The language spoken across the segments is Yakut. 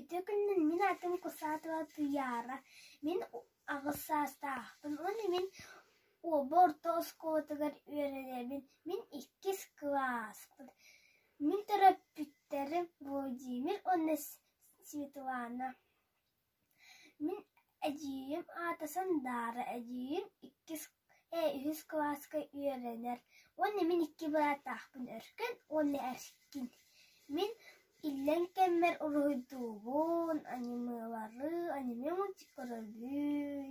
Ити күнүн мин атын кусаатыла Туйаара мин аҕыс саастаахпын уонна мин уоба орто оскуолатыгар үөрэниэбин, мин иккис кылааспын. Мин төрөппүттэрим Владимир уонна Светлана. Мин эдьиийим аата Сандаара, эдьиийим иккис ээ үһүс кылааска үөрэнэр уонна мин икки бырааттаахпын Өркөн уонна Эркин. Мин иллэҥ кэммэр уруһуйдуубун, анималары, аниме мультик көрөбүн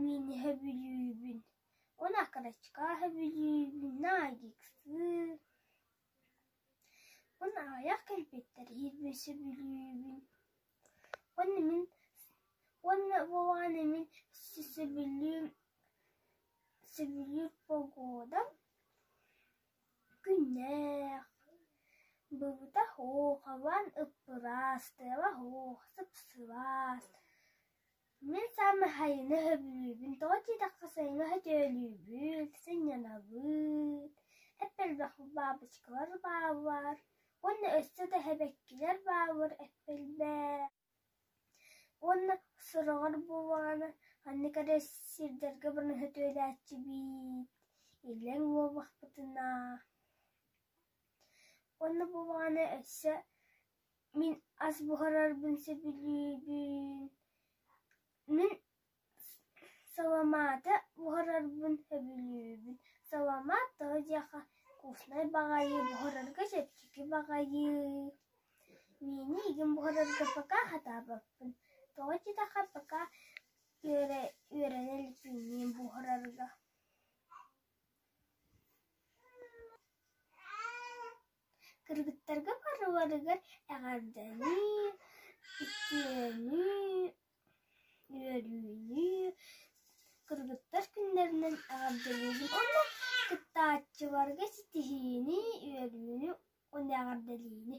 Мин иһэ бүлүүбүн, уонна кырачкааһа бүлүүбүн, наадьыксыы. Уонна аҕыйах кэлбиттэригэр бөсө бүлүүбүн. Уонна мин уонна буолааны мин сөбүлүүр сөбүлүүр погодам күннээх. Быбыта оһох, хабан ыппыраас, тыаба оһох, сыпсыбаас. Мин саамай хайыны өбүлүүбүн тоҕо диэтэххэ сайыҥҥы сөтөлүүбүт, сынньанабыт, эп элбэх баабычкалар бааллар уонна өссө да эһэбэккилэр бааллар эп элбэх. Уонна сороҕор буоллаҕына маннык эрэ сирдэргэ баран сөтөлөөччүбүт, иллэҥ буоллахпытына. Уонна буоллаҕына өссө Мин ас буһарарбын сөбүлүүбүн, мин саламааты буһарарбын сөбүлүүбүн. Саламаат тоҕо диэххэ вкуснай баҕайы, буһарарга чэпчэки баҕайы. Миини игин буһарарга пока сатаабаппын. Тоҕо диэтэххэ пока үөрэ- үөрэнэ илик миини буһарарга. Кыргыттарга барыларыгар эҕэрдэлии, үтүөнүү, үөрүүлүү кыргыттар күннэринэн эҕэрдэлиибин уонна кыттааччыларга ситиһиини, үөрүүнү уонна эҕэрдэлиини!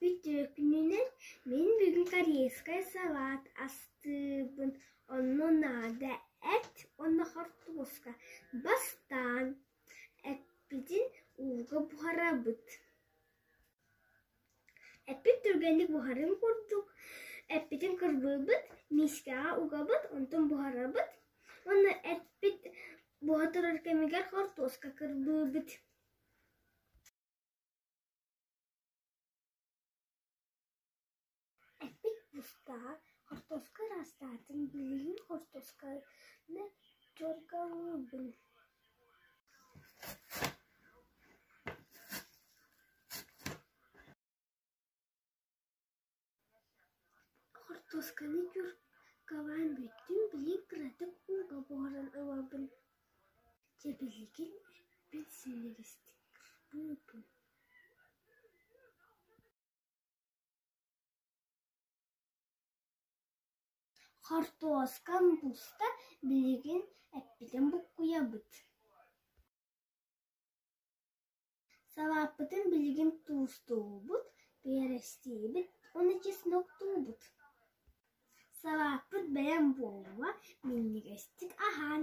Бүтүөкүнүнэн мин бүгүн корейскай салаат астыыбын, онно наада эт уонна хортуоска бастаан эппитин ууга буһарабыт. Эппит түргэнник буһарын курдук, эппитин кырбыыбыт, миискэҕэ угабыт, онтон буһарабыт, уонна эппит буһа турар кэмигэр хортуоска кырбыыбыт. Ыстаҕа хортуоска ыраастаатыҥ, билигин хортуосканы дьоргоһуубун Хортуосканы күр кабаан бүттүн билигин кыратык ууга буһаран ылабын дьэ билигин эппин силигистик кырбыыбын Хортуоскам буста билигин эппитин буккуйабыт Салааппытын билигин туустуубут, биэрэстиибит уонна чесноктуубут Салааппыт бэйэм буолуо, минньигэстик аһаан